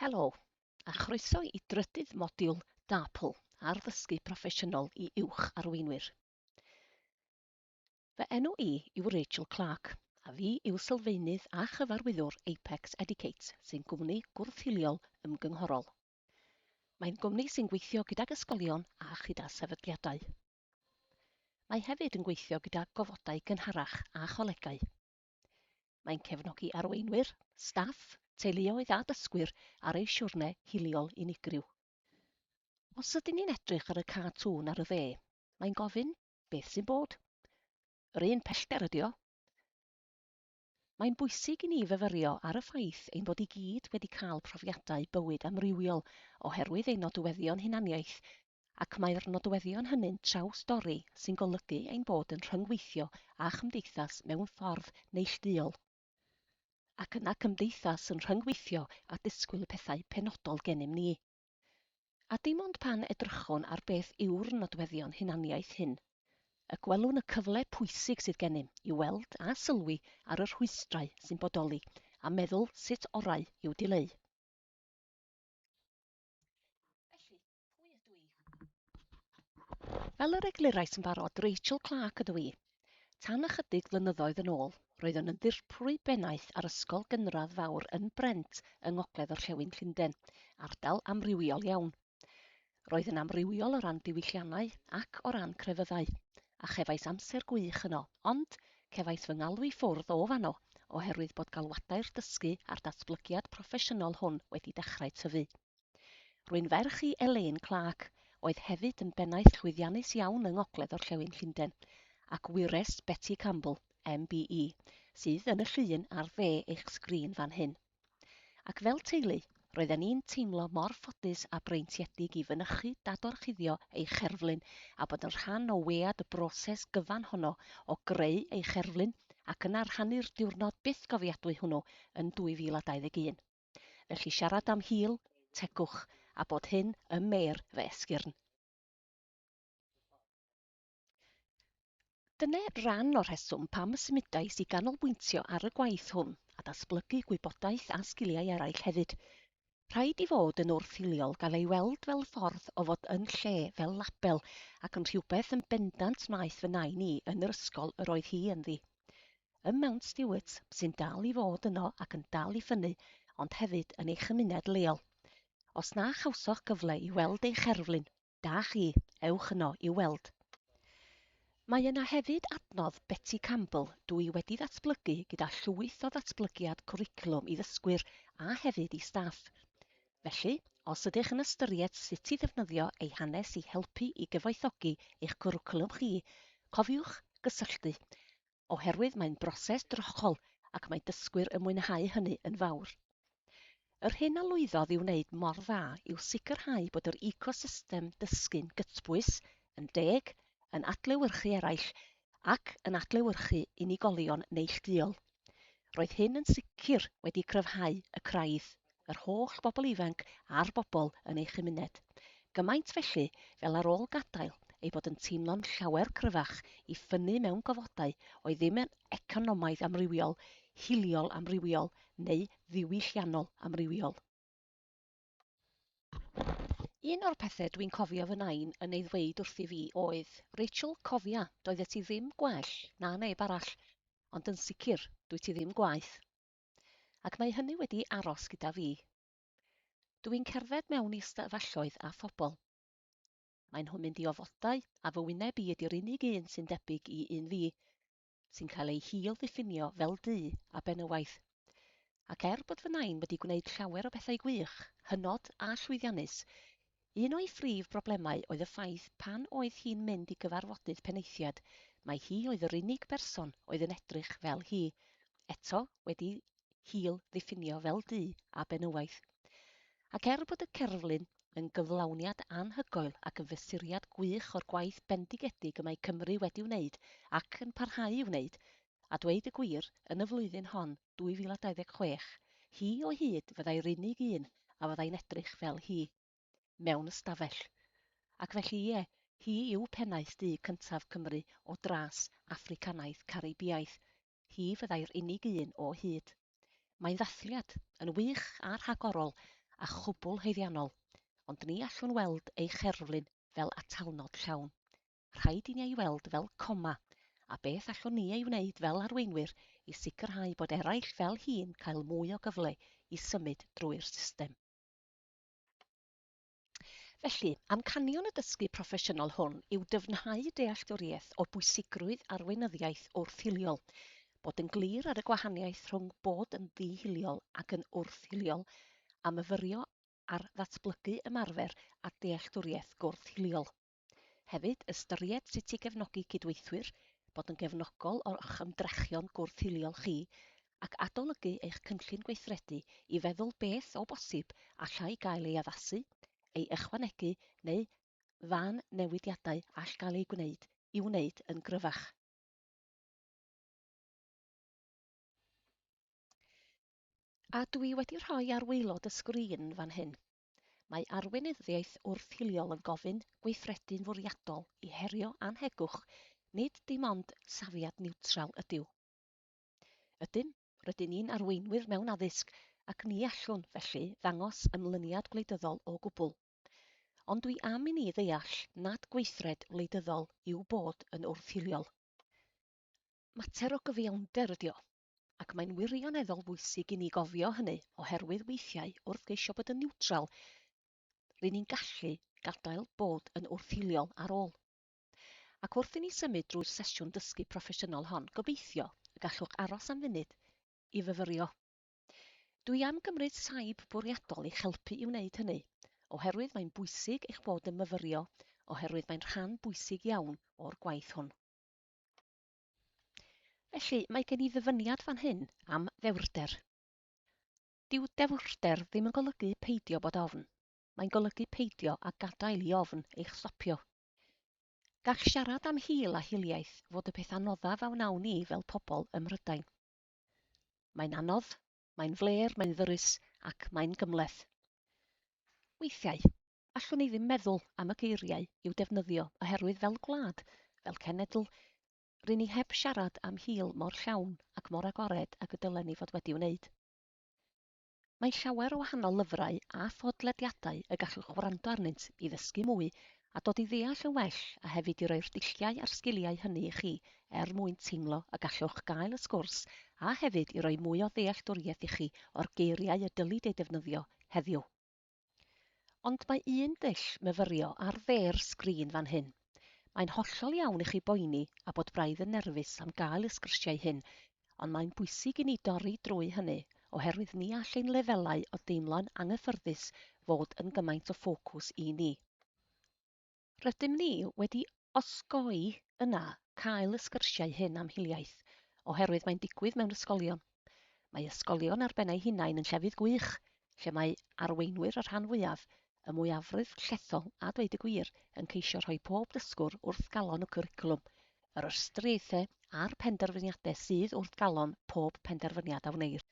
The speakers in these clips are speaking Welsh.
Helo, a chroeso i drydydd modiwl DAPL, Arddysgu Proffesiynol i Uwch Arweinwyr. Fy enw i yw Rachel Clark, a fi yw sylfaenydd a chyfarwyddwr Apex Educate, sy'n gwmni gwrth-hiliol ymgynghorol. Mae'n gwmni sy'n gweithio gydag ysgolion a chyda sefydliadau. Mae hefyd yn gweithio gyda gofodau gynharach a cholegau. Mae'n cefnogi arweinwyr, staff, teuluoedd a dysgwyr ar eu siwrne hiliol unigryw. Os ydyn ni'n edrych ar y cartŵn ar y dde, mae'n gofyn beth sy'n bod. Yr un pellter ydy o. Mae'n bwysig i ni fyfyrio ar y ffaith ein bod i gyd wedi cael profiadau bywyd amrywiol oherwydd ein nodweddion hunaniaeth ac mae'r nodweddion hynny'n traws-dorri sy'n golygu ein bod yn rhyngweithio â chymdeithas mewn ffordd neillduol, ac yna cymdeithas yn rhyngweithio a disgwyl y pethau penodol gennym ni. A dim ond pan edrychwn ar beth yw'r nodweddion hunaniaeth hyn y gwelwn y cyfle pwysig sydd gennym i weld a sylwi ar y rhwystrau sy'n bodoli a meddwl sut orau i'w dileu. Felly, Pwy ydw i? Fel yr eglurais yn barod, Rachel Clark ydw i. Tan ychydig flynyddoedd yn ôl, roeddwn yn ddirprwy bennaeth ar ysgol gynradd fawr yn Brent yng ngogledd orllewin Llundain, ardal amrywiol iawn. Roedd yn amrywiol o ran diwylliannau ac o ran crefyddau, a chefais amser gwych yno, ond cefais fy ngalw i ffwrdd o fanno oherwydd bod galwadau'r dysgu a'r datblygiad proffesiynol hwn wedi dechrau tyfu. Rwy'n ferch i Elaine Clarke, oedd hefyd yn bennaeth llwyddiannus iawn yng ngogledd-orllewin Llundain, ac wyres Betty Campbell, MBE, sydd yn y llun ar dde eich sgrin fan hyn. Ac fel teulu, roedden ni'n teimlo mor ffodus a breintiedig i fynychu dadorchuddio ei cherflun a bod yn rhan o wead y broses gyfan honno o greu ei cherflun ac yna rhannu'r diwrnod byth gofiadwy hwnnw yn 2021. Felly siarad am hil, tegwch, a bod hyn ym mêr fy esgyrn. Dyna ran o'r rheswm pam y symudais i ganolbwyntio ar y gwaith hwn a datblygu gwybodaeth a sgiliau eraill hefyd. Rhaid i fod yn wrth-hiliol gael ei weld fel ffordd o fod yn lle, fel label, ac yn rhywbeth yn bendant wnaeth fy nain i yn yr ysgol yr oedd hi ynddi. ym Mount Stewart sy'n dal i fod yno ac yn dal i ffynnu ond hefyd yn ei chymuned leol. Os na chawsoch gyfle i weld ei cherflun, da chi, ewch yno i'w weld. Mae yna hefyd adnodd Betty Campbell dw i wedi ddatblygu gyda llwyth o ddatblygiad cwricwlwm i ddysgwyr a hefyd i staff. Felly, os ydych yn ystyried sut i ddefnyddio eu hanes i helpu i gyfoethogi eich cwricwlwm chi, cofiwch gysylltu, oherwydd mae'n broses drochol ac mae dysgwyr yn mwynhau hynny yn fawr. Yr hyn a lwyddodd i wneud mor dda yw sicrhau bod yr ecosystem dysgu'n gytbwys, yn deg, yn adlewyrchu eraill, ac yn adlewyrchu unigolion neillduol. Roedd hyn yn sicr wedi cryfhau y craidd, yr holl bobl ifanc a'r bobl yn ei chymuned. Gymaint felly, fel ar ôl gadael, ei bod yn teimlo'n llawer cryfach i ffynnu mewn gofodau oedd ddim yn economaidd amrywiol, hiliol amrywiol neu ddiwylliannol amrywiol. Un o'r pethe dwi'n cofio fy nain yn ei ddweud wrth i fi oedd, Rachel, cofia, doeddet ti ddim gwell na neb arall, ond yn sicr, dwyt ti ddim gwaeth. Ac mae hynny wedi aros gyda fi. Dw i'n cerdded mewn i ystafelloedd a phobl. Maen nhw'n mynd i ofodau a fy wyneb i ydy'r unig un sy'n debyg i un fi, sy'n cael ei hil-ddiffinio fel du a benywaidd. Ac er bod fy nain wedi gwneud llawer o bethau gwych, hynod a llwyddiannus, un o'i phrif broblemau oedd y ffaith pan oedd hi'n mynd i gyfarfodydd penaethiad, mai hi oedd yr unig berson oedd yn edrych fel hi. Eto, wedi hil ddiffinio fel du a benywaidd. Ac er bod y cerflun yn gyflawniad anhygoel ac yn fesuriad gwych o'r gwaith bendigedig y mae Cymru wedi wneud ac yn parhau i wneud, a dweud y gwir, yn y flwyddyn hon, 2026, hi o hyd fyddai'r unig un a fyddai'n edrych fel hi mewn ystafell. Ac felly, ie, hi yw pennaeth du cyntaf Cymru o dras Affricanaidd Caribïaidd, Hi fyddai'r unig un o hyd. Mae'n ddathliad, yn wych a rhagorol a chwbl haeddiannol, ond ni allwn weld ei cherflun fel atalnod llawn. Rhaid i ni ei weld fel coma, a beth allwn ni ei wneud fel arweinwyr i sicrhau bod eraill fel hi'n cael mwy o gyfle i symud drwy'r system? Felly, amcanion y dysgu proffesiynol hwn yw dyfnhau dealltwriaeth o bwysigrwydd arweinyddiaeth wrth-hiliol, bod yn glir ar y gwahaniaeth rhwng bod yn ddi-hiliol ac yn wrth-hiliol, a myfyrio ar ddatblygu ymarfer a dealltwriaeth gwrth-hiliol. Hefyd, ystyried sut i gefnogi cydweithwyr, bod yn gefnogol o'ch ymdrechion gwrth-hiliol chi, ac adolygu eich cynllun gweithredu i feddwl beth, o bosib, allai gael ei addasu, ei ychwanegu neu fa newidiadau all gael eu gwneud i'w wneud yn gryfach. A dwi wedi rhoi ar waelod y sgrin fan hyn. Mae arweinyddiaeth wrth-hiliol yn gofyn gweithredu'n fwriadol i herio annhegwch, nid dim ond safiad niwtral ydyw. Ydym, rydyn ni'n arweinwyr mewn addysg, ac ni allwn, felly, ddangos ymlyniad gwleidyddol o gwbl. Ond dwi am i ni ddeall nad gweithred wleidyddol yw bod yn wrth-hiliol. Mater o gyfiawnder ydy o. ac mae'n wirioneddol bwysig i ni gofio hynny, oherwydd weithiau, wrth geisio bod yn niwtral, rŷn ni'n gallu gadael bod yn wrthiliol ar ôl. Ac wrth i ni symud drwy'r sesiwn dysgu proffesiynol hon, gobeithio y gallwch aros am funud i fyfyrio. Dwi am gymryd saib bwriadol i'ch helpu i wneud hynny, oherwydd mae'n bwysig eich bod yn myfyrio, oherwydd mae'n rhan bwysig iawn o'r gwaith hwn. Felly, mae gen i ddyfyniad fan hyn am ddewrder. Dyw dewrder ddim yn golygu peidio bod ofn. Mae'n golygu peidio a gadael i ofn eich stopio. Gall siarad am hil a hiliaeth fod y peth anoddaf a wnawn ni fel pobl ym Mhrydain. Mae'n anodd, mae'n flêr, mae'n ddyrys ac mae'n gymhleth. Weithiau, allwn ni ddim meddwl am y geiriau i'w defnyddio oherwydd fel gwlad, fel cenedl, ry'n ni heb siarad am hil mor llawn ac mor agored ag y dylen ni fod wedi wneud. Mae llawer o wahanol lyfrau a phodlediadau y gallwch wrando arnynt i ddysgu mwy a dod i ddeall yn well a hefyd i roi'r dulliau a'r sgiliau hynny i chi er mwyn teimlo y gallwch gael y sgwrs a hefyd i roi mwy o ddealltwriaeth i chi o'r geiriau y dylid eu defnyddio heddiw. Ond mae un dull myfyrio ar dde'r sgrin fan hyn. Mae'n hollol iawn i chi boeni a bod braidd yn nerfus am gael y sgyrsiau hyn, ond mae'n bwysig i ni dorri drwy hynny, oherwydd ni all ein lefelau o deimlo'n anghyffyrddus fod yn gymaint o ffocws i ni. Rydym ni wedi osgoi yna cael y sgyrsiau hyn am hiliaeth, oherwydd mae'n digwydd mewn ysgolion. Mae ysgolion ar ben eu hunain yn llefydd gwych, lle mae arweinwyr y rhan fwyaf, y mwyafrif llethol a dweud y gwir, yn ceisio rhoi pob dysgwr wrth galon y cwricwlwm, yr ystyriaethau a'r penderfyniadau sydd wrth galon pob penderfyniad a wneir.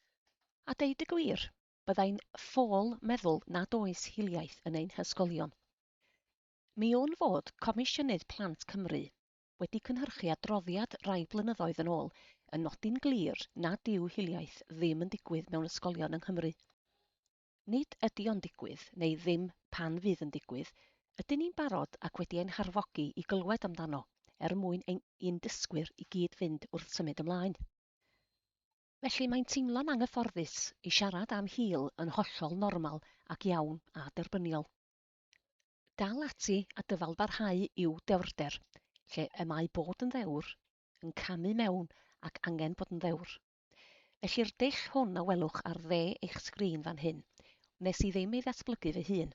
A deud y gwir, byddai'n ffôl meddwl nad oes hiliaeth yn ein hysgolion. Mi wn fod Comisiynydd Plant Cymru wedi cynhyrchu adroddiad rai blynyddoedd yn ôl yn nodi'n glir nad yw hiliaeth ddim yn digwydd mewn ysgolion yng Nghymru. Nid ydy o'n digwydd, neu ddim pan fydd yn digwydd, ydyn ni'n barod ac wedi ein harfogi i glywed amdano er mwyn ein i'n dysgwyr i gyd fynd wrth symud ymlaen. Felly mae'n teimlo'n anghyfforddus i siarad am hil yn hollol normal ac iawn a derbyniol. Dal ati a dyfalbarhau i'w dewrder, lle y mae bod yn ddewr yn camu mewn ac angen bod yn ddewr. Felly'r dull hwn a welwch ar dde eich sgrin fan hyn, wnes i ddim ei ddatblygu fy hun.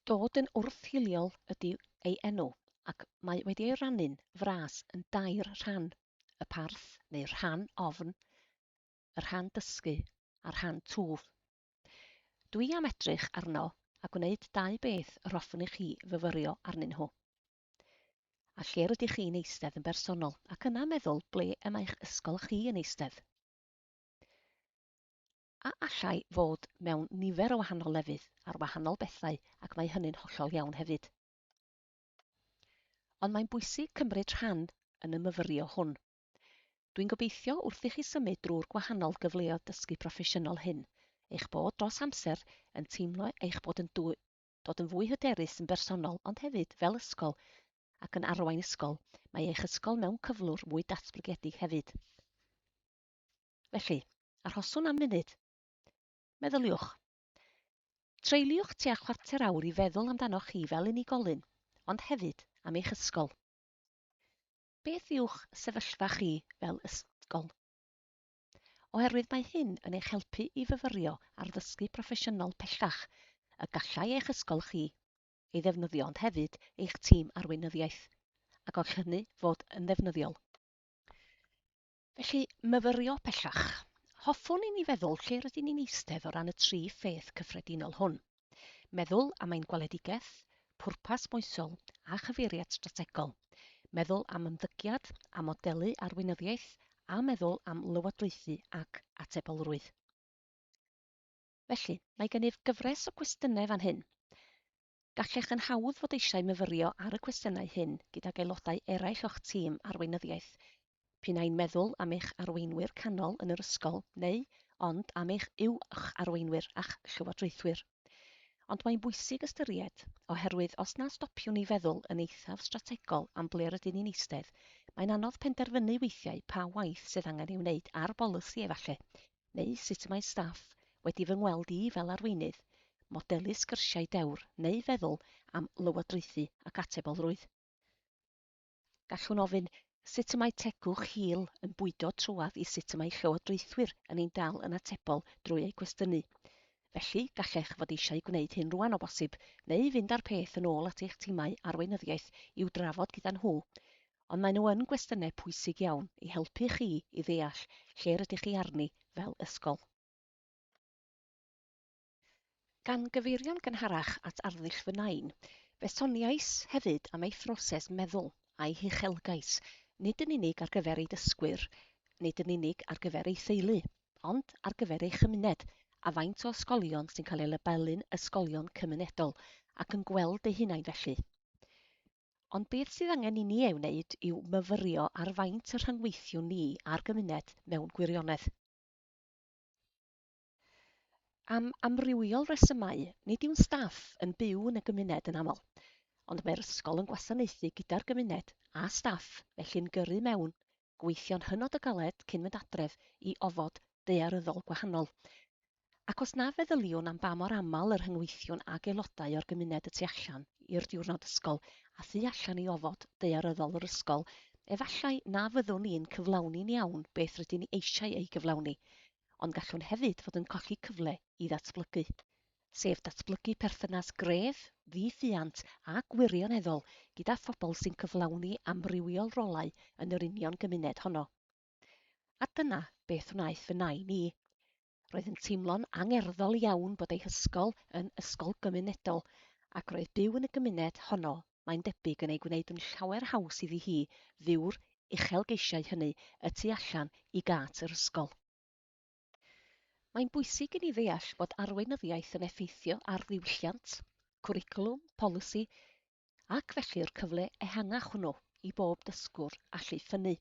Dod yn wrth-hiliol ydyw ei enw, ac mae wedi ei rannu'n fras yn dair rhan, y parth, neu rhan ofn, y rhan dysgu, a'r rhan twf. Dwi am edrych arno a gwneud dau beth yr hoffwn i chi fyfyrio arnyn nhw. A lle rydych chi'n eistedd yn bersonol, ac yna meddwl ble y mae'ch ysgol chi yn eistedd. a allai fod mewn nifer o wahanol lefydd, ar wahanol bethau, ac mae hynny'n hollol iawn hefyd. Ond mae'n bwysig cymryd rhan yn y myfyrio hwn. Dwi'n gobeithio wrth i chi symud drwy'r gwahanol gyfleoedd dysgu proffesiynol hyn, eich bod dros amser yn teimlo eich bod yn dod yn fwy hyderus yn bersonol ond hefyd fel ysgol ac yn arwain ysgol, mae eich ysgol mewn cyflwr mwy datblygedig hefyd. Felly, arhoswn am funud. Meddyliwch. Treuliwch tua chwarter awr i feddwl amdanoch chi fel unigolyn, ond hefyd am eich ysgol. Beth yw'ch sefyllfa chi fel ysgol? Oherwydd mae hyn yn eich helpu i fyfyrio ar ddysgu proffesiynol pellach y gallai eich ysgol chi ei ddefnyddio ond hefyd eich tîm arweinyddiaeth, a gall hynny fod yn ddefnyddiol. Felly, myfyrio pellach. Hoffwn i ni feddwl lle rydyn ni'n eistedd o ran y tri pheth cyffredinol hwn. Meddwl am ein gweledigaeth, pwrpas moesol a chyfeiriad strategol, meddwl am ymddygiad a modelu arweinyddiaeth a meddwl am lywodraethu ac atebolrwydd. Felly, mae gennyf gyfres o gwestiynau fan hyn. Gallech yn hawdd fod eisiau myfyrio ar y cwestiynau hyn gydag aelodau eraill o'ch tîm arweinyddiaeth, p'un ai'n meddwl am eich arweinwyr canol yn yr ysgol neu ond am eich uwch arweinwyr a'ch llywodraethwyr. Ond mae'n bwysig ystyried, oherwydd os na stopiwn ni feddwl yn eithaf strategol am ble rydyn ni'n eistedd, mae'n anodd penderfynu weithiau pa waith sydd angen ei wneud ar bolisi, efallai, neu sut mae staff wedi fy ngweld i fel arweinydd, modelu sgyrsiau dewr neu feddwl am lywodraethu ac atebolrwydd. Gallwn ofyn, sut y mae tegwch Hil yn bwydo trwadd i sut y mae llywodraethwyr yn ein dal yn atebol drwy eu cwestiynu? Felly, gallech fod eisiau gwneud hyn rwan o bosib, neu fynd â'r peth yn ôl at eich timau arweinyddiaeth i'w drafod gyda nhw. ond maen nhw yn gwestiynau pwysig iawn i helpu chi i ddeall lle rydych chi arni fel ysgol. Gan gyfeirio'n gynharach at arddull fy Nain, fe soniais hefyd am ei phroses meddwl a'i huchelgais, nid yn unig ar gyfer ei dysgwyr, nid yn unig ar gyfer ei theulu, ond ar gyfer ei chymuned, a faint o ysgolion sy'n cael eu labelu'n ysgolion cymunedol ac yn gweld eu hunain felly. Ond beth sydd angen i ni ei wneud yw myfyrio ar faint y rhyngweithiwn ni â'r gymuned mewn gwirionedd. Am amrywiol resymau, nid yw'n staff yn byw yn y gymuned yn aml. Ond mae'r ysgol yn gwasanaethu gyda'r gymuned a staff felly'n gyrru mewn gweithio'n hynod o galed cyn mynd adref i ofod daearyddol gwahanol. Ac os na feddyliwn am ba mor aml y rhyngweithiwn ag aelodau o'r gymuned y tu allan i'r diwrnod ysgol a thu allan i ofod daearyddol yr ysgol, efallai na fyddwn ni'n cyflawni'n iawn beth rydyn ni eisiau ei gyflawni, ond gallwn hefyd fod yn colli cyfle i ddatblygu. sef datblygu perthynas gref, ddi-ffiant a gwirioneddol gyda phobl sy'n cyflawni amrywiol rolau yn yr union gymuned honno. A dyna beth wnaeth fy nain i. Roedd yn teimlo'n angerddol iawn bod ei hysgol yn ysgol gymunedol ac roedd byw yn y gymuned honno mae'n debyg yn ei gwneud yn llawer haws iddi hi fyw'r uchelgeisiau hynny y tu allan i gât yr ysgol. Mae'n bwysig i ni ddeall bod arweinyddiaeth yn effeithio ar ddiwylliant, cwricwlwm, polisi ac felly'r cyfle ehangach hwnnw i bob dysgwr allu ffynnu.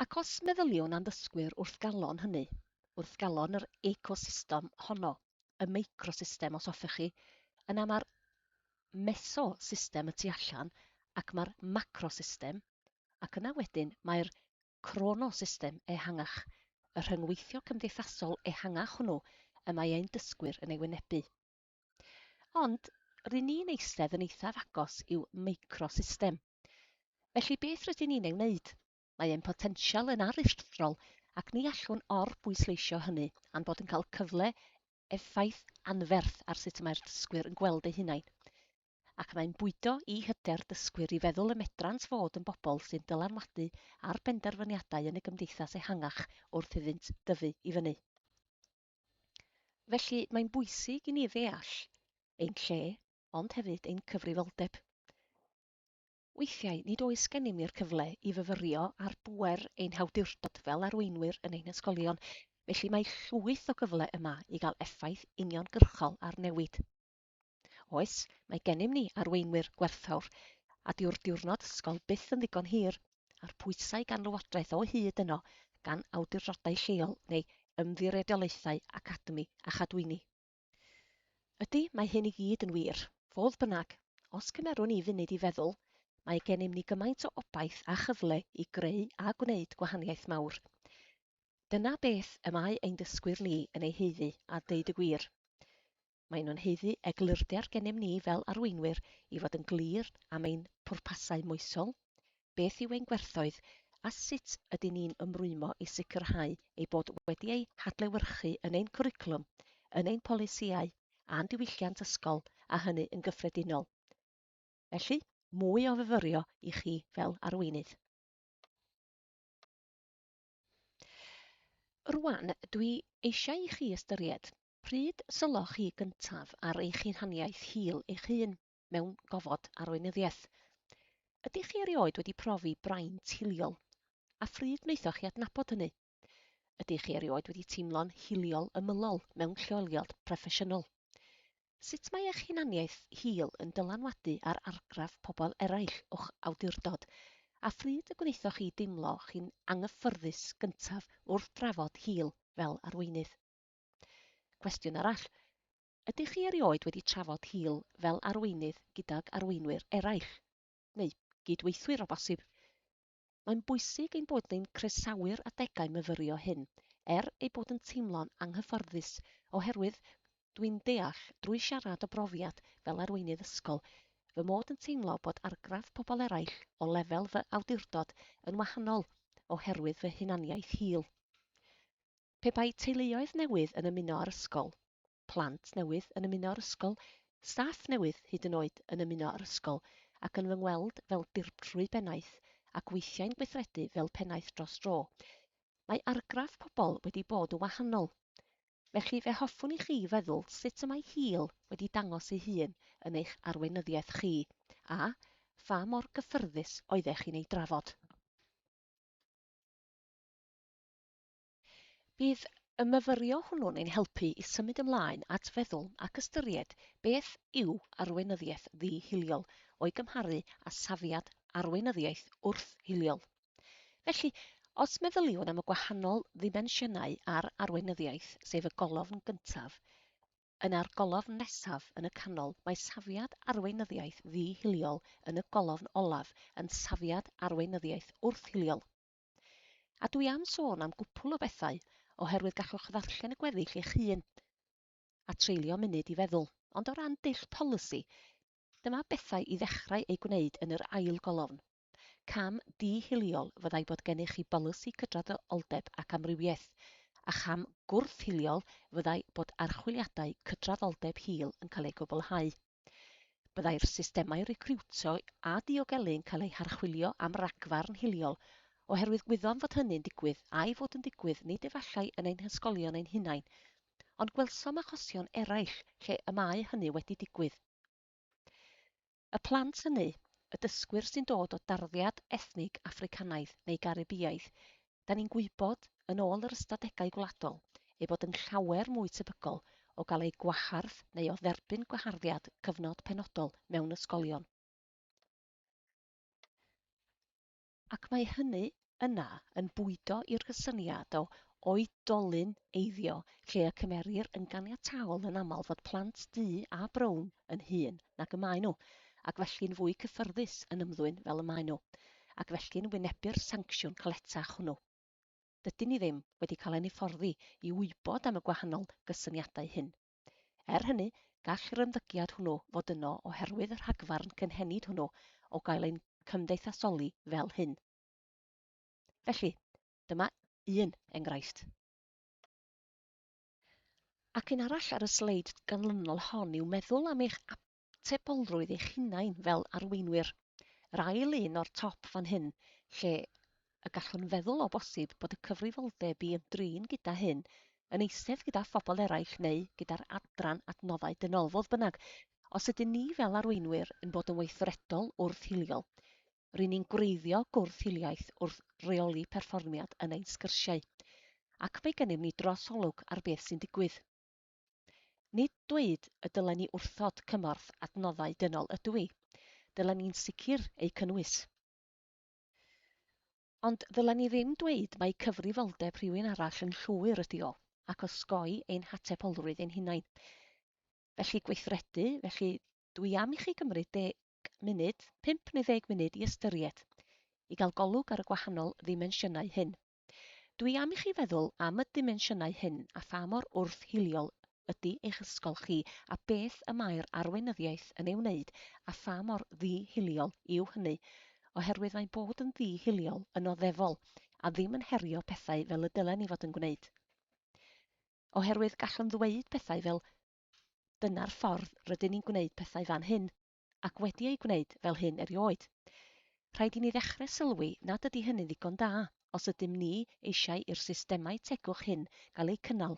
Ac os meddyliwn am ddysgwyr wrth galon hynny, wrth galon yr ecosystem honno, y meicrosystem os hoffech chi, yna mae'r mesosystem y tu allan ac mae'r macrosystem, ac yna wedyn mae'r crono system ehangach, y rhyngweithio cymdeithasol ehangach hwnnw y mae ein dysgwyr yn ei wynebu. Ond, rŷn ni'n eistedd yn eithaf agos i'w microsystem. Felly beth rydyn ni'n ei wneud? Mae ein potensial yn aruthrol ac ni allwn or-bwysleisio hynny a'n bod yn cael cyfle effaith anferth ar sut y mae'r dysgwyr yn gweld eu hunain. ac mae'n bwydo i hyder dysgwyr i feddwl y medrant fod yn bobl sy'n dylanwadu ar benderfyniadau yn y gymdeithas ehangach wrth iddynt dyfu i fyny. Felly, mae'n bwysig i ni ddeall ein lle, ond hefyd ein cyfrifoldeb. Weithiau, nid oes gennym ni'r cyfle i fyfyrio ar bŵer ein hawdurdod fel arweinwyr yn ein ysgolion, felly mae llwyth o gyfle yma i gael effaith uniongyrchol ar newid. Oes, mae gennym ni arweinwyr gwerthfawr, a dyw'r diwrnod ysgol byth yn ddigon hir, a'r pwysau gan lywodraeth o hyd yno, gan awdurdodau lleol neu ymddiriedolaethau academi a chadwyni. Ydy, mae hyn i gyd yn wir. Fodd bynnag, os cymerwn ni funud i feddwl, mae gennym ni gymaint o obaith a chyfle i greu a gwneud gwahaniaeth mawr. Dyna beth y mae ein dysgwyr ni yn ei haeddu, a deud y gwir. Maen nhw'n haeddu eglurder gennym ni fel arweinwyr i fod yn glir am ein pwrpasau moesol, beth yw ein gwerthoedd a sut ydyn ni'n ymrwymo i sicrhau eu bod wedi eu hadlewyrchu yn ein cwricwlwm, yn ein polisïau a'n diwylliant ysgol, a hynny yn gyffredinol. Felly, mwy o fyfyrio i chi fel arweinydd. Rwan, dwi eisiau i chi ystyried Pryd sylloch chi gyntaf ar eich hunaniaeth hil eich hun mewn gofod arweinyddiaeth? Ydych chi erioed wedi profi braint hiliol, a phryd wnaethoch chi adnabod hynny? Ydych chi erioed wedi teimlo'n hiliol ymylol mewn lleoliad proffesiynol? Sut mae eich hunaniaeth hil yn dylanwadu ar argraff pobl eraill o'ch awdurdod, a phryd y gwnaethoch chi deimlo chi'n anghyffyrddus gyntaf wrth drafod hil fel arweinydd? Cwestiwn arall, ydych chi erioed wedi trafod hil fel arweinydd gydag arweinwyr eraill, neu gyd-weithwyr o bosib? Mae'n bwysig ein bod ni'n croesawu'r adegau myfyrio hyn, er ei bod yn teimlo'n anghyfforddus, oherwydd dwi'n deall, drwy siarad o brofiad fel arweinydd ysgol, fy mod yn teimlo bod argraff pobl eraill o lefel fy awdurdod yn wahanol oherwydd fy hunaniaeth hil. Pe bai teuluoedd newydd yn ymuno â'r ysgol, plant newydd yn ymuno â'r ysgol, staff newydd hyd yn oed yn ymuno â'r ysgol ac yn fy ngweld fel dirprwy bennaeth ac weithiau'n gweithredu fel pennaeth dros dro, mae argraff pobl wedi bod yn wahanol. Felly fe hoffwn i chi feddwl sut y mae Hil wedi dangos ei hun yn eich arweinyddiaeth chi, a pha mor gyffyrddus oeddech chi'n ei drafod. Bydd y myfyrio hwnnw'n ein helpu i symud ymlaen at feddwl ac ystyried beth yw arweinyddiaeth ddi-hiliol o'i gymharu â safiad arweinyddiaeth wrth-hiliol. Felly, os meddyliwn am y gwahanol ddimensiynau ar arweinyddiaeth, sef y golofn gyntaf yn a'r golofn nesaf yn y canol, mae safiad arweinyddiaeth ddi-hiliol yn y golofn olaf yn safiad arweinyddiaeth wrth-hiliol. A dwi am sôn am gwpwl o bethau, oherwydd gallwch ddarllen y gweddill eich hun, a treulio munud i feddwl, ond o ran dull polisi, dyma bethau i ddechrau eu gwneud yn yr ail golofn. Cam di-hiliol fyddai bod gennych chi bolisi cydraddoldeb ac amrywiaeth, a cham gwrth-hiliol fyddai bod archwiliadau cydraddoldeb hil yn cael eu cwblhau. Byddai'r systemau recriwtio a diogelu'n cael eu harchwilio am ragfarn hiliol, oherwydd gwyddom fod hynny'n digwydd, a'i fod yn digwydd nid efallai yn ein hysgolion ein hunain, ond gwelsom achosion eraill lle y mae hynny wedi digwydd. Y plant hynny, y dysgwyr sy'n dod o darddiad ethnig Affricanaidd neu Garibïaidd, da ni'n gwybod, yn ôl yr ystadegau gwladol, ei bod yn llawer mwy tebygol o gael eu gwahardd neu o dderbyn gwaharddiad cyfnod penodol mewn ysgolion. Ac mae hynny yna yn bwydo i'r cysyniad o oedolyn eiddio lle y cymerir yn ganiataol yn aml fod plant du a brown yn hŷn nag y maen nhw, ac felly'n fwy cyffyrddus yn ymddwyn fel y maen nhw. ac felly'n wynebu'r sancsiwn caletach hwnnw. Dydyn ni ddim wedi cael ein hyfforddi i wybod am y gwahanol gysyniadau hyn. Er hynny, gall yr ymddygiad hwnnw fod yno oherwydd y rhagfarn cynhenid hwnnw o gael ein cymdeithasoli fel hyn. Felly, dyma un enghraifft. Ac un arall ar y sleid ganlynol hon yw meddwl am eich atebolrwydd eich hunain fel arweinwyr. Yr ail un o'r top fan hyn, lle y gallwn feddwl o bosib bod y cyfrifoldeb i ymdrin gyda hyn yn eistedd gyda phobl eraill neu gyda'r adran adnoddau dynol, fodd bynnag, os ydyn ni fel arweinwyr yn bod yn weithredol wrth hiliol, ry'n ni'n gwreiddio gwrth-hiliaeth wrth reoli perfformiad yn ein sgyrsiau, ac mae gennym ni drosolwg ar beth sy'n digwydd. Nid dweud y dylen ni wrthod cymorth adnoddau dynol ydw i. Dylen ni'n sicr eu cynnwys. Ond ddylen ni ddim dweud mai cyfrifoldeb rhywun arall yn llwyr ydi o, ac osgoi ein hatebolrwydd ein hunain. Felly gweithredu, felly dw i am i chi gymryd deg munud, pump neu ddeg munud i ystyried, i gael golwg ar y gwahanol ddimensiynau hyn. Dwi am i chi feddwl am y dimensiynau hyn a pha mor wrth-hiliol ydy eich ysgol chi a beth y mae'r arweinyddiaeth yn ei wneud a pha mor ddi-hiliol yw hynny, oherwydd mae bod yn ddi-hiliol yn oddefol a ddim yn herio pethau fel y dylen ni fod yn gwneud. Oherwydd gallwn ddweud pethau fel 'dyna'r ffordd rydyn ni'n gwneud pethau fan hyn', ac wedi ei gwneud fel hyn erioed. Rhaid i ni ddechrau sylwi nad ydy hynny'n ddigon da os ydym ni eisiau i'r systemau tegwch hyn gael eu cynnal,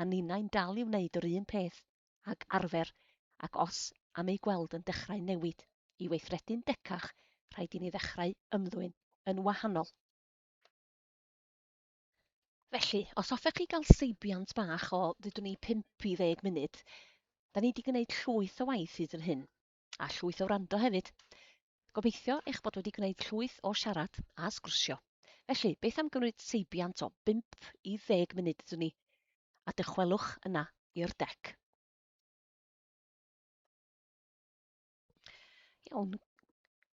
a ninnau'n dal i wneud yr un peth ag arfer ac os am eu gweld yn dechrau newid i weithredu'n decach rhaid i ni ddechrau ymddwyn yn wahanol. Felly, os hoffech chi gael seibiant bach o ddydwn i 5 i 10 munud, da ni wedi gwneud llwyth o waith hyd yn hyn, a llwyth o wrando hefyd. Gobeithio eich bod wedi gwneud llwyth o siarad a sgwrsio. Felly, beth am gymryd seibiant o 5 i 10 munud ydw ni, a dychwelwch yna i'r dec. Iawn.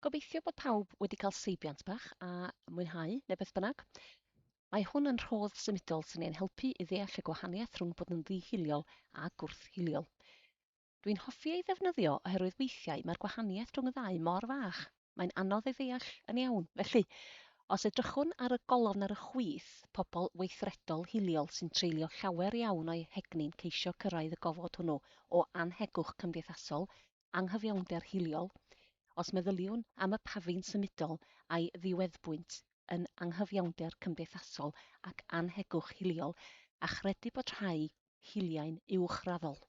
Gobeithio bod pawb wedi cael seibiant bach a mwynhau, neu beth bynnag. Mae hwn yn rhodd symudol sy'n ein helpu i ddeall y gwahaniaeth rhwng bod yn ddihiliol a gwrthhiliol. Dwi'n hoffi ei ddefnyddio oherwydd weithiau mae'r gwahaniaeth rhwng y ddau mor fach, mae'n anodd ei ddeall yn iawn. Felly, os edrychwn ar y golofn ar y chwith, pobl weithredol hiliol sy'n treulio llawer iawn o'u hegni'n ceisio cyrraedd y gofod hwnnw o annhegwch cymdeithasol, anghyfiawnder hiliol, os meddyliwn am y pafin symudol a'i ddiweddbwynt yn anghyfiawnder cymdeithasol ac annhegwch hiliol, a chredu bod rhai hiliau'n uwchraddol.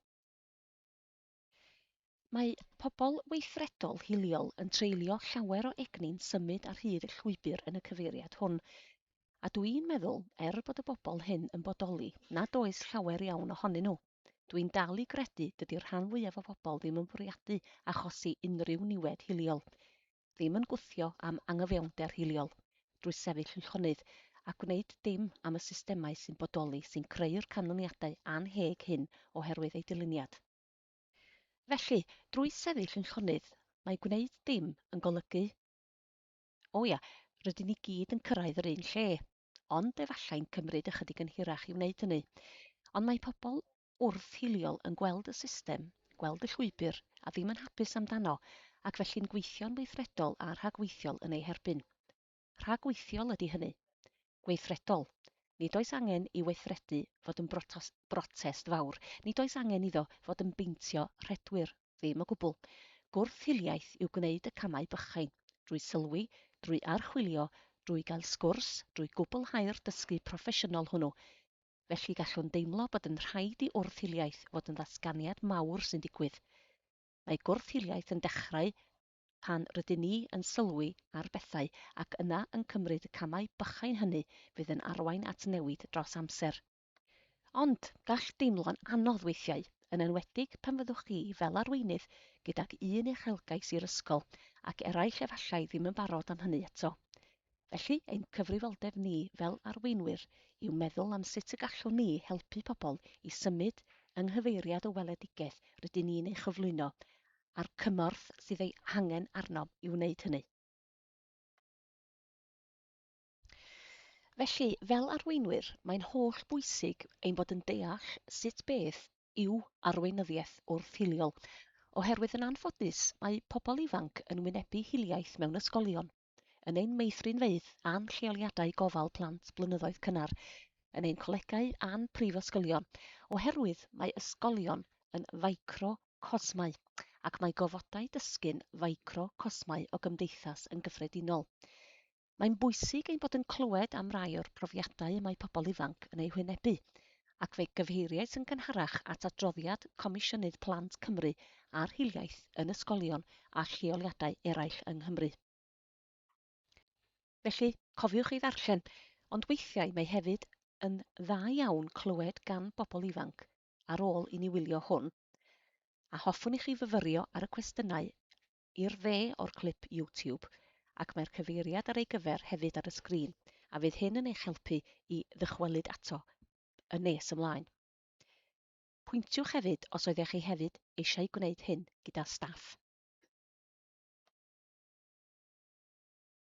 Mae pobl weithredol hiliol yn treulio llawer o egni'n symud ar hyd y llwybr yn y cyfeiriad hwn, a dw i'n meddwl, er bod y bobl hyn yn bodoli, nad oes llawer iawn ohonyn nhw. Dwi'n dal i gredu dydi'r rhan fwyaf o bobl ddim yn bwriadu achosi unrhyw niwed hiliol, ddim yn gwthio am angyfiawnder hiliol drwy sefyll yn llonydd a gwneud dim am y systemau sy'n bodoli sy'n creu'r canlyniadau annheg hyn oherwydd eu dyluniad. Felly, drwy sefyll yn llonydd, mae gwneud dim yn golygu, O ia, rydyn ni gyd yn cyrraedd yr un lle. ond efallai'n cymryd ychydig yn hirach i wneud hynny. Ond mae pobl wrth-hiliol yn gweld y system, gweld y llwybr, a ddim yn hapus amdano, ac felly'n gweithio'n weithredol a rhagweithiol yn ei herbyn. Rhagweithiol ydy hynny. Gweithredol. Nid oes angen i weithredu fod yn brotest fawr, nid oes angen iddo fod yn beintio rhedwyr. Ddim o gwbl. Gwrth hiliaeth yw gwneud y camau bychain, drwy sylwi, drwy archwilio, drwy gael sgwrs, drwy gwblhau'r dysgu proffesiynol hwnnw. Felly gallwn deimlo bod yn rhaid i wrth hiliaeth fod yn ddatganiad mawr sy'n digwydd. Mae gwrth hiliaeth yn dechrau pan rydyn ni yn sylwi ar bethau ac yna yn cymryd y camau bychain hynny fydd yn arwain at newid dros amser. Ond, gall deimlo'n anodd weithiau, yn enwedig pan fyddwch chi fel arweinydd gydag un uchelgais i'r ysgol ac eraill efallai ddim yn barod am hynny eto. Felly, ein cyfrifoldeb ni fel arweinwyr yw meddwl am sut y gallwn ni helpu pobl i symud yng nghyfeiriad y weledigaeth rydyn ni'n ei chyflwyno a'r cymorth sydd ei hangen arnom i wneud hynny. Felly, fel arweinwyr, mae'n holl bwysig ein bod yn deall sut beth yw arweinyddiaeth wrth-hiliol, oherwydd yn anffodus mae pobl ifanc yn wynebu hiliaeth mewn ysgolion, yn ein meithrinfeydd a'n lleoliadau gofal plant blynyddoedd cynnar, yn ein colegau a'n prifysgolion, oherwydd mae ysgolion yn ficrocosmau, ac mae gofodau dysgu'n ficrocosmau o gymdeithas yn gyffredinol. Mae'n bwysig ein bod yn clywed am rai o'r profiadau y mae pobl ifanc yn eu hwynebu, ac fe gyfeiriais yn gynharach at adroddiad Comisiynydd Plant Cymru ar hiliaeth yn ysgolion a lleoliadau eraill yng Nghymru. Felly, cofiwch ei ddarllen, ond weithiau mae hefyd yn dda iawn clywed gan bobl ifanc ar ôl i ni wylio hwn, a hoffwn i chi fyfyrio ar y cwestiynau i'r dde o'r clip YouTube ac mae'r cyfeiriad ar ei gyfer hefyd ar y sgrin a fydd hyn yn eich helpu i ddychwelyd ato yn nes ymlaen. Pwyntiwch hefyd os oeddech chi hefyd eisiau gwneud hyn gyda staff.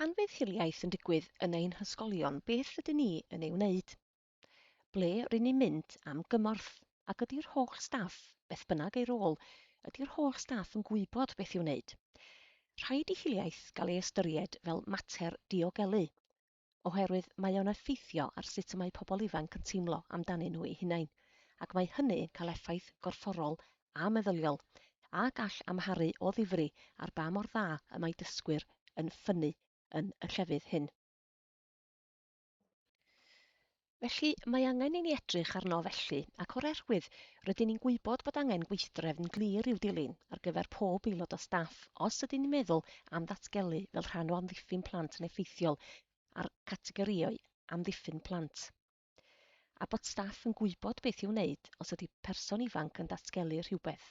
Pan fydd hiliaeth yn digwydd yn ein hysgolion, beth ydyn ni yn ei wneud? Ble rydyn ni'n mynd am gymorth? Ac ydy'r holl staff, beth bynnag ei rôl, ydy'r holl staff yn gwybod beth i'w wneud? Rhaid i hiliaeth gael ei ystyried fel mater diogelu, oherwydd mae o'n effeithio ar sut y mae pobl ifanc yn teimlo amdanyn nhw'u hunain, ac mae hynny yn cael effaith gorfforol a meddyliol, a gall amharu o ddifri ar ba mor dda y mae dysgwyr yn ffynnu yn y llefydd hyn. Felly, mae angen i ni edrych arno felly, ac o'r erwydd, rydyn ni'n gwybod bod angen gweithdrefn glir i'w dilyn ar gyfer pob aelod o staff os ydyn ni'n meddwl am ddatgelu fel rhan o amddiffyn plant yn effeithiol a'r categorïau amddiffyn plant, a bod staff yn gwybod beth i'w wneud os ydy person ifanc yn datgelu rhywbeth,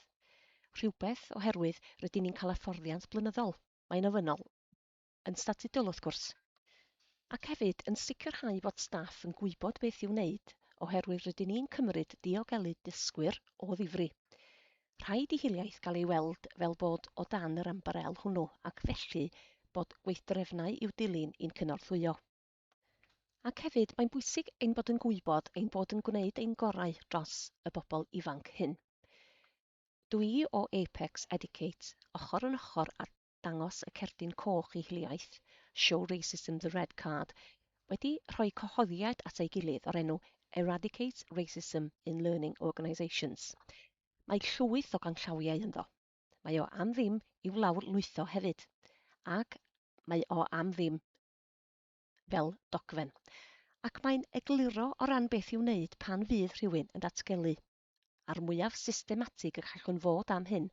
rhywbeth, oherwydd rydyn ni'n cael hyfforddiant blynyddol, mae'n ofynnol. yn statudol wrth gwrs, ac hefyd yn sicrhau fod staff yn gwybod beth i'w wneud oherwydd rydyn ni'n cymryd diogelu dysgwyr o ddifri. Rhaid i hiliaeth gael ei weld fel bod o dan yr ymbarél hwnnw ac felly bod gweithdrefnau i'w dilyn i'n cynorthwyo. Ac hefyd mae'n bwysig ein bod yn gwybod ein bod yn gwneud ein gorau dros y bobl ifanc hyn. Dw i o Apex Educate, ochr yn ochr â dangos y cerdyn coch i hiliaeth, Show Racism the Red Card, wedi rhoi cyhoeddiad at ei gilydd o'r enw Eradicate Racism in Learning Organisations. Mae llwyth o ganllawiau ynddo. Mae o am ddim i'w lawr lwytho hefyd, ac mae o am ddim fel dogfen. Ac mae'n egluro o ran beth i'w wneud pan fydd rhywun yn datgelu. a'r mwyaf systematig y gallwn fod am hyn,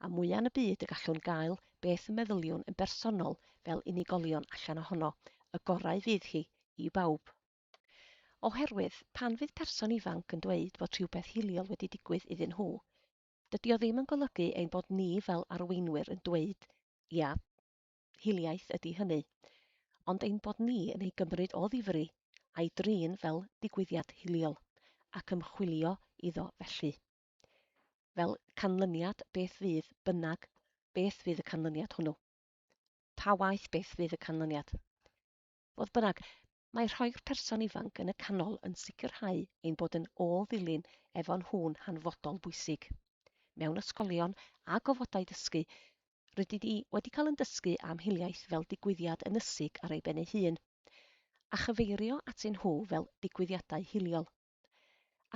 a mwya yn y byd y gallwn gael beth y meddyliwn yn bersonol fel unigolion allan ohono, y gorau fydd hi i bawb. Oherwydd, pan fydd person ifanc yn dweud bod rhywbeth hiliol wedi digwydd iddyn nhw, dydy o ddim yn golygu ein bod ni fel arweinwyr yn dweud, 'Ia, hiliaeth ydi hynny, ond ein bod ni yn ei gymryd o ddifri a'i drin fel digwyddiad hiliol, ac ymchwilio iddo felly. Fel canlyniad beth fydd bynnag, beth fydd y canlyniad hwnnw? Pa waeth beth fydd y canlyniad? Fodd bynnag, mae rhoi'r person ifanc yn y canol yn sicrhau ein bod yn ôl-ddilyn efo nhw'n hanfodol bwysig. Mewn ysgolion a gofodau dysgu, rydyn ni wedi cael yn dysgu am hiliaeth fel digwyddiad ynysig ar ei ben ei hun, a chyfeirio atyn nhw fel digwyddiadau hiliol.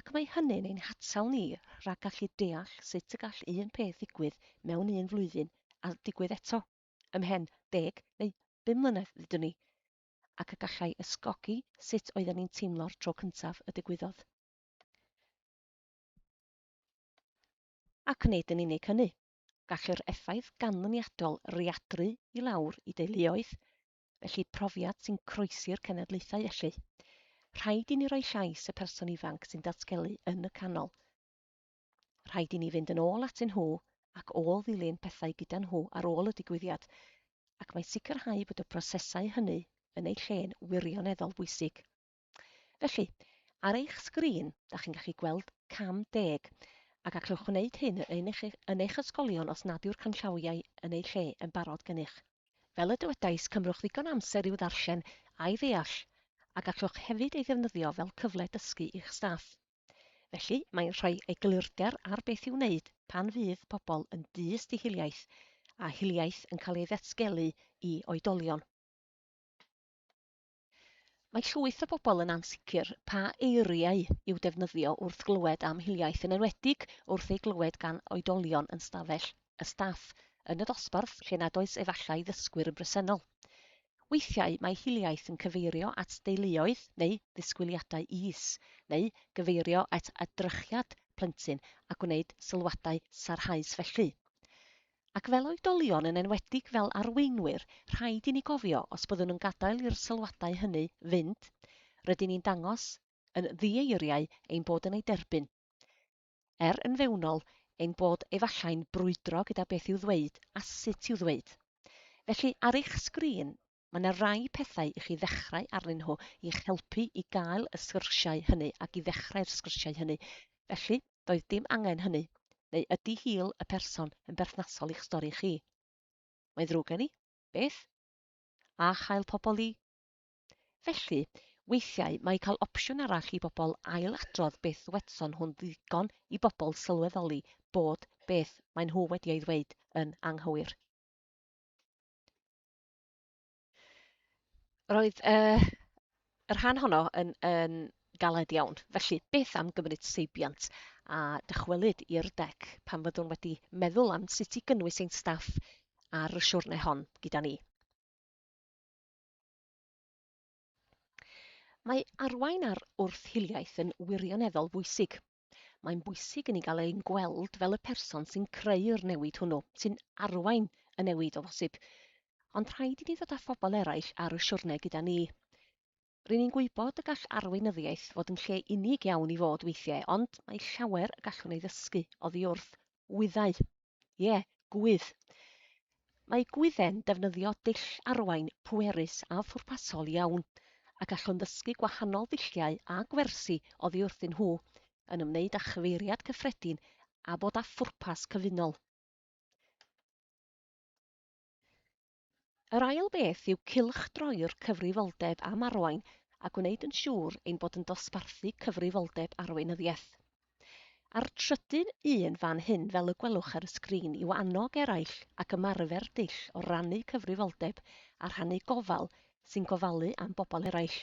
Ac mae hynny'n ein hatal ni rhag gallu deall sut y gall un peth ddigwydd mewn un flwyddyn a digwydd eto. ymhen deg neu bum mlynedd ddudwn i, ac y gallai ysgogi sut oedden ni'n teimlo'r tro cyntaf y digwyddodd. Ac nid yn unig hynny, gall yr effaith ganlyniadol readru i lawr i deuluoedd, felly profiad sy'n croesi'r cenedlaethau felly. Rhaid i ni roi llais y person ifanc sy'n datgelu yn y canol. Rhaid i ni fynd yn ôl atyn nhw ac ôl-ddilyn pethau gyda nhw ar ôl y digwyddiad, ac mae sicrhau bod y prosesau hynny yn eu lle'n wirioneddol bwysig. Felly, ar eich sgrin, da chi'n gallu gweld cam deg, a gallwch wneud hyn yn eich, yn eich ysgolion os nad yw'r canllawiau yn eu lle yn barod gennych. Fel y dywedais, cymrwch ddigon amser i'w ddarllen a'i ddeall, a gallwch hefyd ei ddefnyddio fel cyfle dysgu i'ch staff. Felly, mae'n rhoi eglurder ar beth i'w wneud pan fydd pobl yn dyst i hiliaeth, a hiliaeth yn cael ei ddatgelu i oedolion. Mae llwyth o bobl yn ansicr pa eiriau i'w defnyddio wrth glywed am hiliaeth, yn enwedig wrth ei glywed gan oedolion yn stafell y staff yn y dosbarth lle nad oes efallai ddysgwyr yn bresennol. Weithiau mae hiliaeth yn cyfeirio at deuluoedd neu ddisgwyliadau is, neu gyfeirio at edrychiad plentyn a gwneud sylwadau sarhaus felly. Ac fel oedolion, yn enwedig fel arweinwyr, rhaid i ni gofio, os byddwn yn gadael i'r sylwadau hynny fynd, rydyn ni'n dangos yn ddieiriau ein bod yn eu derbyn. er yn fewnol, ein bod efallai'n brwydro gyda beth i'w ddweud a sut i'w ddweud. Felly, ar eich sgrin, mae 'na rai pethau i chi ddechrau arnyn nhw i'ch helpu i gael y sgyrsiau hynny ac i ddechrau'r sgyrsiau hynny. Felly, doedd dim angen hynny. Neu ydy hil y person yn berthnasol i'ch stori chi? Mae'n ddrwg gen i? Beth? A chael pobl i? Felly, weithiau mae cael opsiwn arall i bobl ail-adrodd beth ddywedson nhw'n ddigon i bobl sylweddoli bod beth maen nhw wedi ei ddweud yn anghywir. Roedd uh, y rhan honno yn, yn galed iawn. Felly, beth am gymryd seibiant a dychwelyd i'r dec pan fyddwn wedi meddwl am sut i gynnwys ein staff ar y siwrne hon gyda ni. Mae arwain ar wrth-hiliaeth yn wirioneddol bwysig. Mae'n bwysig i ni gael ein gweld fel y person sy'n creu'r newid hwnnw, sy'n arwain y newid o bosib. Ond rhaid i ni ddod â phobl eraill ar y siwrne gyda ni. Rŷn ni'n gwybod y gall arweinyddiaeth fod yn lle unig iawn i fod weithiau, ond mae llawer y gallwn ei ddysgu oddi wrth Gwyddau. Ie, gwydd. Mae gwydde'n defnyddio dull arwain pwerus a phwrpasol iawn, a gallwn ddysgu gwahanol ddulliau a gwersi oddi wrthyn nhw, yn ymwneud â chyfeiriad cyffredin a bod â phwrpas cyfunol. Yr ail beth yw cylchdroi'r cyfrifoldeb am arwain a gwneud yn siŵr ein bod yn dosbarthu cyfrifoldeb arweinyddiaeth. A'r trydydd un fan hyn fel y gwelwch ar y sgrin yw annog eraill ac ymarfer dull o rannu cyfrifoldeb a rhannu gofal sy'n gofalu am bobl eraill.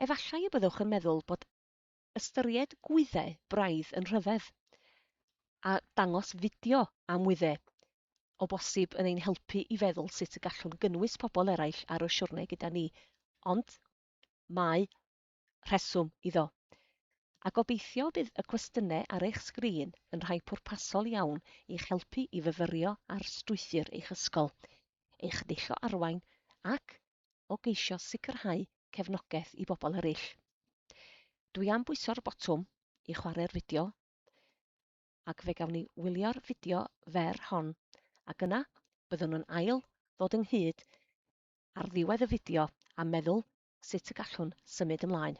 Efallai y byddwch yn meddwl bod ystyried gwyddau braidd yn rhyfedd, a dangos fideo am wyddau, o bosib yn ein helpu i feddwl sut y gallwn gynnwys pobl eraill ar y siwrne gyda ni, ond mae rheswm iddo. A gobeithio bydd y cwestiynau ar eich sgrin yn rhai pwrpasol iawn i'ch helpu i fyfyrio ar strwythur eich ysgol, eich deillo arwain ac o geisio sicrhau cefnogaeth i bobl eraill. Dwi am bwyso'r botwm i chwarae'r fideo, ac fe gawn ni wylio'r fideo fer hon, ac yna byddwn yn ail ddod ynghyd ar ddiwedd y fideo a meddwl sut y gallwn symud ymlaen.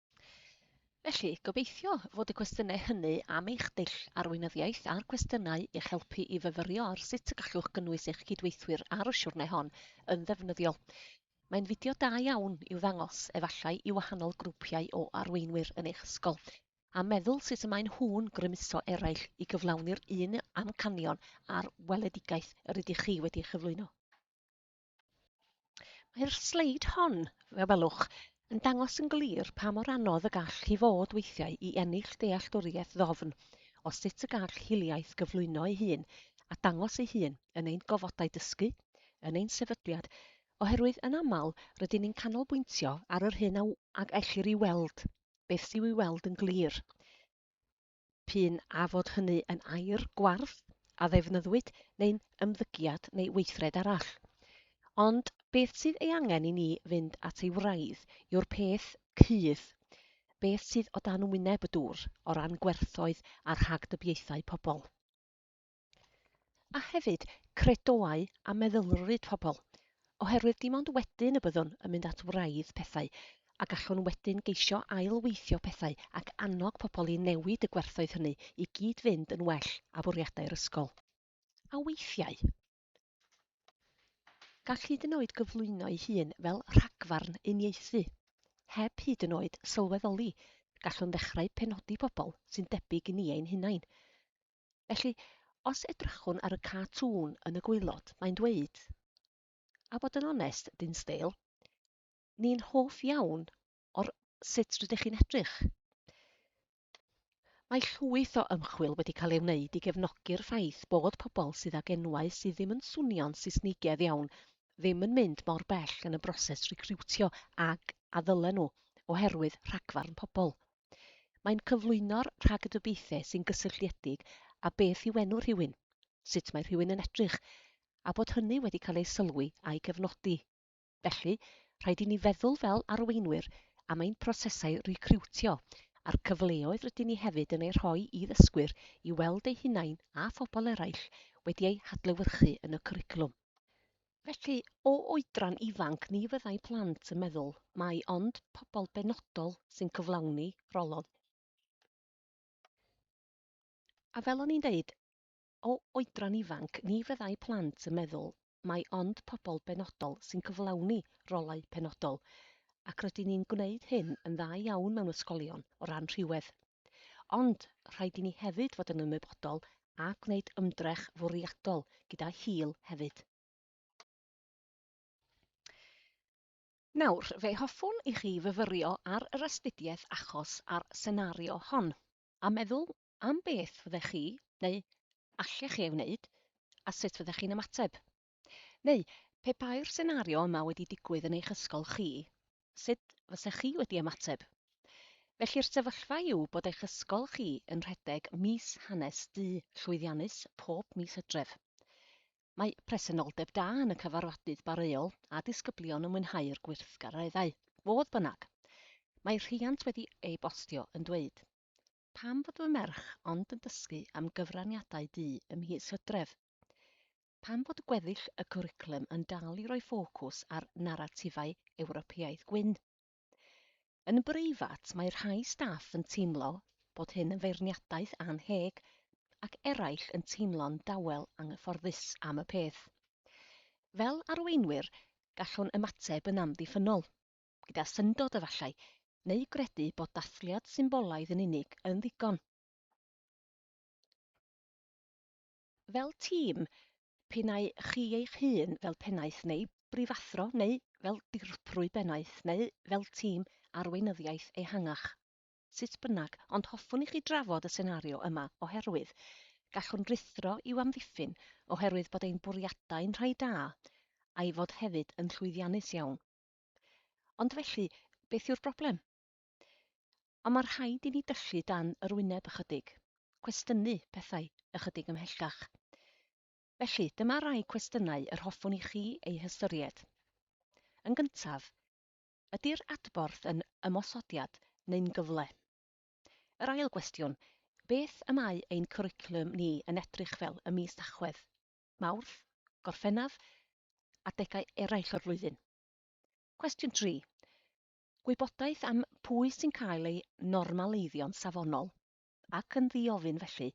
Felly, gobeithio fod y cwestiynau hynny am eich dull arweinyddiaeth a'r cwestiynau i'ch helpu i fyfyrio ar sut y gallwch gynnwys eich cydweithwyr ar y siwrne hon yn ddefnyddiol. Mae'n fideo da iawn i'w ddangos, efallai, i wahanol grwpiau o arweinwyr yn eich ysgol, a meddwl sut y maen nhw'n grymuso eraill i gyflawni'r un amcanion a'r weledigaeth yr ydych chi wedi'i chyflwyno. Mae'r sleid hon, fe welwch, yn dangos yn glir pa mor anodd y gall hi fod weithiau i ennill dealltwriaeth ddofn o sut y gall hiliaeth gyflwyno ei hun a dangos ei hun yn ein gofodau dysgu, yn ein sefydliad, oherwydd yn aml rydyn ni'n canolbwyntio ar yr hyn a ellir ei weld, beth sy'w ei weld yn glir. p'un a fod hynny yn aer gwarth a ddefnyddwyd neu'n ymddygiad neu weithred arall. Ond beth sydd ei angen i ni fynd at ei wraidd yw'r peth cudd, beth sydd o dan wyneb y dŵr o ran gwerthoedd a rhagdybiaethau pobl. A hefyd, credoau a meddylfryd pobl, oherwydd dim ond wedyn y byddwn yn mynd at wraidd pethau, a gallwn wedyn geisio ail-weithio pethau ac annog pobl i newid y gwerthoedd hynny i gyd-fynd yn well â bwriadau'r ysgol. A weithiau, gall hyd yn oed gyflwyno'i hun fel rhagfarn uniaethu. Heb hyd yn oed sylweddoli, gallwn ddechrau penodi pobl sy'n debyg i ni ein hunain. Felly, os edrychwn ar y cartŵn yn y gwaelod, mae'n dweud, a bod yn onest, Dinsdale, ni'n hoff iawn o'r sut rydych chi'n edrych. Mae llwyth o ymchwil wedi cael ei wneud i gefnogi'r ffaith bod pobl sydd ag enwau sydd ddim yn swnio'n Saesnigedd iawn ddim yn mynd mor bell yn y broses recriwtio ag a ddylen nhw, oherwydd rhagfarn pobl. Mae'n cyflwyno'r rhagdybiaethau sy'n gysylltiedig â beth yw enw rhywun, sut mae rhywun yn edrych, a bod hynny wedi cael ei sylwi a'i gefnogi. Felly, rhaid i ni feddwl fel arweinwyr am ein prosesau recriwtio a'r cyfleoedd rydyn ni hefyd yn eu rhoi i ddysgwyr i weld eu hunain a phobl eraill wedi eu hadlewyrchu yn y cwricwlwm. Felly, o oedran ifanc ni fyddai plant yn meddwl mai ond pobl benodol sy'n cyflawni rholod. A fel o'n i'n deud, o oedran ifanc ni fyddai plant yn meddwl mai ond pobl benodol sy'n cyflawni rolau penodol, ac rydyn ni'n gwneud hyn yn dda iawn mewn ysgolion o ran rhywedd. Ond, rhaid i ni hefyd fod yn ymwybodol a gwneud ymdrech fwriadol gyda hil hefyd. Nawr, fe hoffwn i chi fyfyrio ar yr astudiaeth achos a'r senario hon, a meddwl am beth fyddech chi, neu allech chi ei wneud, a sut fyddech chi'n ymateb. Neu, pe bai'r senario yma wedi digwydd yn eich ysgol chi, sut fysa chi wedi ymateb? Felly'r sefyllfa yw bod eich ysgol chi yn rhedeg mis hanes du llwyddiannus pob mis hydref. Mae presenoldeb da yn y cyfarfodydd bareuol a disgyblion yn mwynhau'r gweithgareddau. Fodd bynnag, mae rhiant wedi e-bostio yn dweud, Pam fod fy merch ond yn dysgu am gyfraniadau du ym mis Hydref? Pam fod gweddill y cwricwlwm yn dal i roi ffocws ar naratifau Ewropeaidd gwyn? Yn breifat, mae rhai staff yn teimlo bod hyn yn feirniadaeth annheg ac eraill yn teimlo'n dawel anghyfforddus am y peth. Fel arweinwyr, gallwn ymateb yn amddiffynnol. gyda syndod efallai, neu gredu bod dathliad symbolaidd yn unig yn ddigon. Fel tîm, p'un ai chi eich hun fel pennaeth neu brifathro neu fel dirprwy bennaeth neu fel tîm arweinyddiaeth ehangach, sut bynnag, ond hoffwn i chi drafod y senario yma oherwydd gallwn ruthro i'w amddiffyn oherwydd bod ein bwriadau'n rhai da, a'i fod hefyd yn llwyddiannus iawn. Ond felly, beth yw'r broblem? Ond mae rhaid i ni dyllu dan yr wyneb ychydig, cwestiynu pethau ychydig ymhellach. Felly, dyma rai cwestiynau yr hoffwn i chi eu hystyried. Yn gyntaf, ydy'r adborth yn ymosodiad neu'n gyfle? Yr ail gwestiwn, beth y mae ein cwricwlwm ni yn edrych fel ym mis Tachwedd? Mawrth, Gorffennaf, adegau eraill o'r flwyddyn. Cwestiwn 3. Gwybodaeth am pwy sy'n cael ei normaleiddio'n safonol, ac yn ddi-ofyn felly,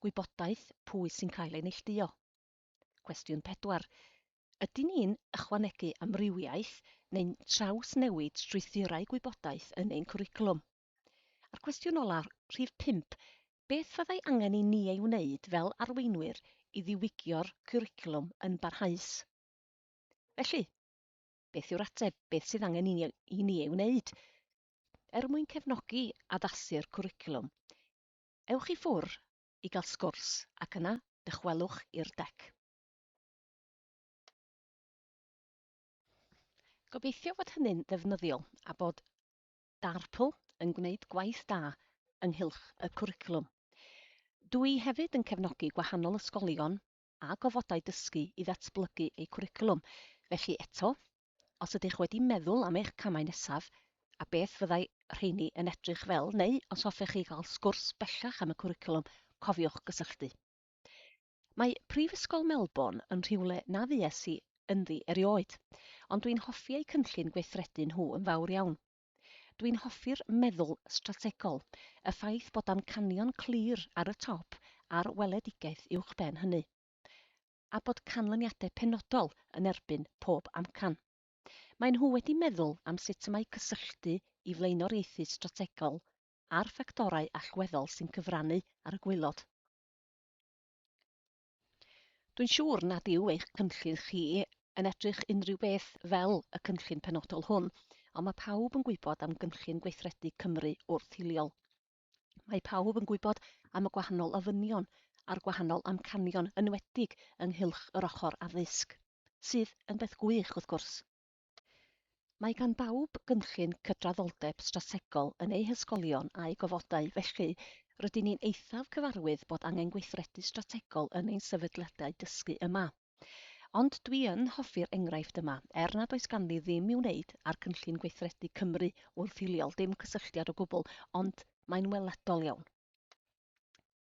gwybodaeth pwy sy'n cael ei neillduo. Cwestiwn 4. Ydyn ni'n ychwanegu amrywiaeth neu'n trawsnewid strwythurau gwybodaeth yn ein cwricwlwm? A'r cwestiwn ola, rhif pump, beth fyddai angen i ni ei wneud fel arweinwyr i ddiwygio'r cwricwlwm yn barhaus? Felly, beth yw'r ateb, beth sydd angen i ni, i ni ei wneud? Er mwyn cefnogi addasu'r cwricwlwm, ewch i ffwr i gael sgwrs ac yna dychwelwch i'r dec. Gobeithio fod hynny'n ddefnyddiol a bod Darpl yn gwneud gwaith da ynghylch y cwricwlwm. Dw i hefyd yn cefnogi gwahanol ysgolion a gofodau dysgu i ddatblygu eu cwricwlwm, felly eto, os ydych wedi meddwl am eich camau nesaf a beth fyddai rheini yn edrych fel neu os hoffech chi gael sgwrs bellach am y cwricwlwm, cofiwch gysylltu. Mae Prifysgol Melbourne yn rhywle na fues i ynddi erioed, ond dwi'n hoffi eu cynllun gweithredu nhw yn fawr iawn. Dwi'n hoffi'r meddwl strategol, y ffaith bod amcanion clir ar y top a'r weledigaeth uwchben hynny, a bod canlyniadau penodol yn erbyn pob amcan. Maen nhw wedi meddwl am sut y mae cysylltu i flaenoriaethu strategol a'r ffactorau allweddol sy'n cyfrannu ar y gwaelod. Dwi'n siŵr nad yw eich cynllun chi yn edrych unrhyw beth fel y cynllun penodol hwn, ond mae pawb yn gwybod am gynllun gweithredu Cymru wrth-hiliol. Mae pawb yn gwybod am y gwahanol ofynion a'r gwahanol amcanion, yn enwedig ynghylch yr ochr addysg, sydd yn beth gwych, wrth gwrs. Mae gan bawb gynllun cydraddoldeb strategol yn eu hysgolion a'u gofodau, felly rydyn ni'n eithaf cyfarwydd bod angen gweithredu strategol yn ein sefydliadau dysgu yma. Ond dwi yn hoffi'r enghraifft yma, er nad oes ganddi ddim i'w wneud â'r cynllun gweithredu Cymru wrth hiliol, dim cysylltiad o gwbl, ond mae'n weledol iawn.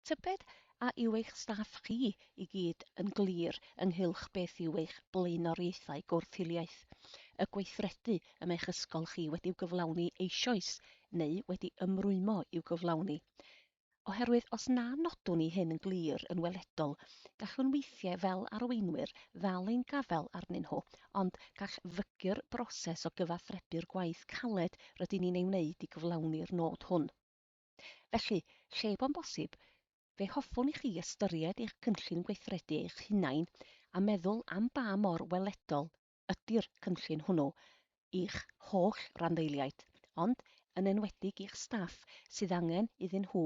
Tybed a yw eich staff chi i gyd yn glir ynghylch beth yw eich blaenoriaethau gwrth-hiliaeth, y gweithredu y mae'ch ysgol chi wedi'u gyflawni eisoes neu wedi ymrwymo i'w gyflawni? Oherwydd os na nodwn ni hyn yn glir yn weledol, gallwn weithiau fel arweinwyr ddal ein gafael arnyn nhw, ond gall fygy'r broses o gyfathrebu'r gwaith caled rydyn ni'n ei wneud i gyflawni'r nod hwn. Felly, lle bo'n bosib, fe hoffwn i chi ystyried eich cynllun gweithredu eich hunain a meddwl am ba mor weledol ydy'r cynllun hwnnw i'ch holl randdeiliaid, ond yn enwedig i'ch staff sydd angen iddyn nhw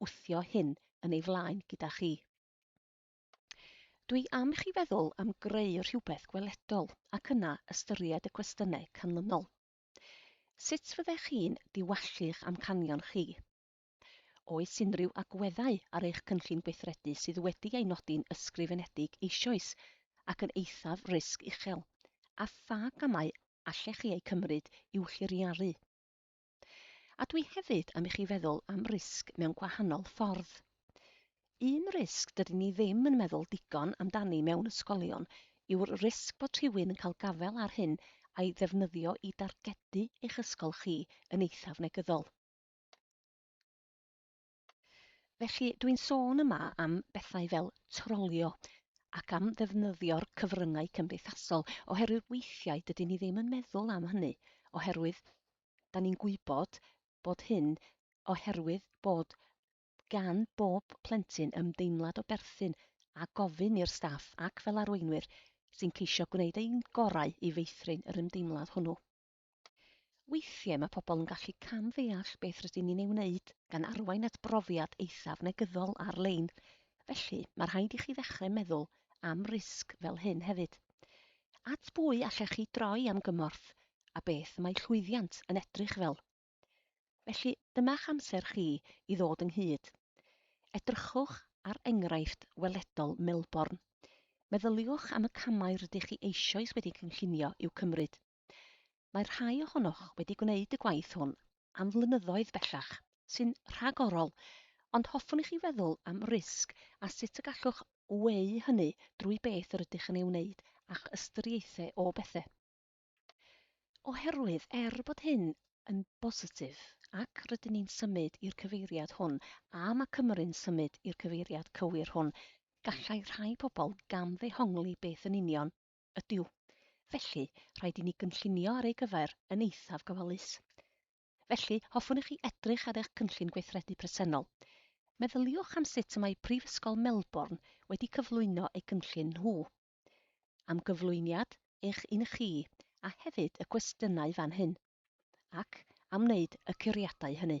wthio hyn yn ei flaen gyda chi. Dwi am i chi feddwl am greu rhywbeth gweledol ac yna ystyried y cwestiynau canlynol. Sut fyddech chi'n diwallu'ch amcanion chi? Oes unrhyw agweddau ar eich cynllun gweithredu sydd wedi ei nodi'n ysgrifenedig eisoes ac yn eithaf risg uchel, a pha gamau allech chi eu cymryd i'w lliriaru? A dwi hefyd am i chi feddwl am risg mewn gwahanol ffordd. Un risg dydyn ni ddim yn meddwl digon amdani mewn ysgolion yw'r risg bod rhywun yn cael gafael ar hyn a'i ddefnyddio i dargedu eich ysgol chi yn eithaf negyddol. Felly, dw i'n sôn yma am bethau fel trolio ac am ddefnyddio'r cyfryngau cymdeithasol, oherwydd weithiau dydyn ni ddim yn meddwl am hynny, oherwydd da ni'n gwybod bod hyn oherwydd bod gan bob plentyn ymdeimlad o berthyn a gofyn i'r staff ac fel arweinwyr sy'n ceisio gwneud ein gorau i feithrin yr ymdeimlad hwnnw. Weithiau mae pobl yn gallu cam-ddeall beth rydyn ni'n ei wneud gan arwain at brofiad eithaf negyddol ar-lein, felly mae rhaid i chi ddechrau meddwl am risg fel hyn hefyd. At bwy allech chi droi am gymorth a beth y mae llwyddiant yn edrych fel? Felly, dyma'ch amser chi i ddod ynghyd. Edrychwch ar enghraifft weledol Melbourne. Meddyliwch am y camau rydych chi eisoes wedi cynllunio i'w cymryd. Mae rhai ohonoch wedi gwneud y gwaith hwn am flynyddoedd bellach, sy'n rhagorol, ond hoffwn i chi feddwl am risg a sut y gallwch weu hynny drwy beth yr ydych yn ei wneud a'ch ystyriaethau o bethau. Oherwydd, er bod hyn yn bositif, ac rydyn ni'n symud i'r cyfeiriad hwn, a mae Cymru'n symud i'r cyfeiriad cywir hwn, gallai rhai pobl gamddehongli beth yn union ydyw. Felly, rhaid i ni gynllunio ar ei gyfer yn eithaf gofalus. Felly, hoffwn i chi edrych ar eich cynllun gweithredu presennol. Meddyliwch am sut y mae Prifysgol Melbourne wedi cyflwyno eu cynllun nhw. am gyflwyniad eich un chi a hefyd y cwestiynau fan hyn, ac am wneud y curiadau hynny.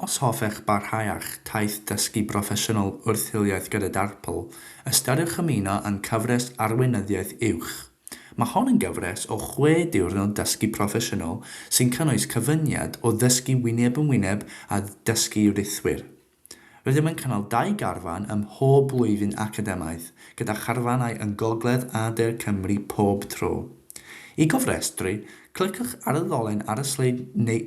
Os hoffech barhau â'ch taith dysgu broffesiynol wrth hiliaeth gyda Darpl, ystyriwch ymuno â'n cyfres Arweinyddiaeth Uwch. Mae hon yn gyfres o chwe diwrnod dysgu proffesiynol sy'n cynnwys cyfuniad o ddysgu wyneb yn wyneb â dysgu rithwir. Rydym yn cynnal dau garfan ym mhob blwyddyn academaidd, gyda charfanau yng Ngogledd a De Cymru pob tro. I gofrestru, cliciwch ar y ddolen ar y sleid neu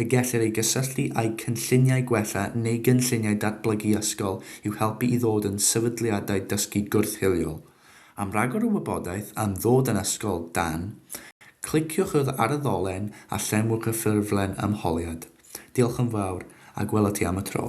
y gellir ei gysylltu â'u cynlluniau gwella neu gynlluniau datblygu ysgol i'w helpu i ddod yn sefydliadau dysgu gwrth-hiliol. Am ragor o wybodaeth am ddod yn ysgol dan, cliciwch yr ar y ddolen a llenwch y ffurflen ymholiad. Diolch yn fawr, a gwela ti am y tro.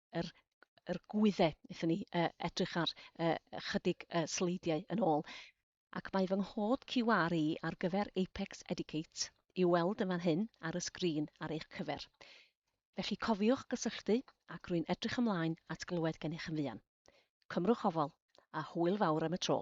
yr yr gwydde wnaethon ni uh, edrych ar uh, ychydig uh, sleidiau yn ôl. Ac mae fy nghod QR i ar gyfer Apex Educate i weld yn fan hyn ar y sgrin ar eich cyfer. Felly cofiwch gysylltu ac rwy'n edrych ymlaen at glywed gennych yn fuan. Cymrwch ofal a hwyl fawr am y tro.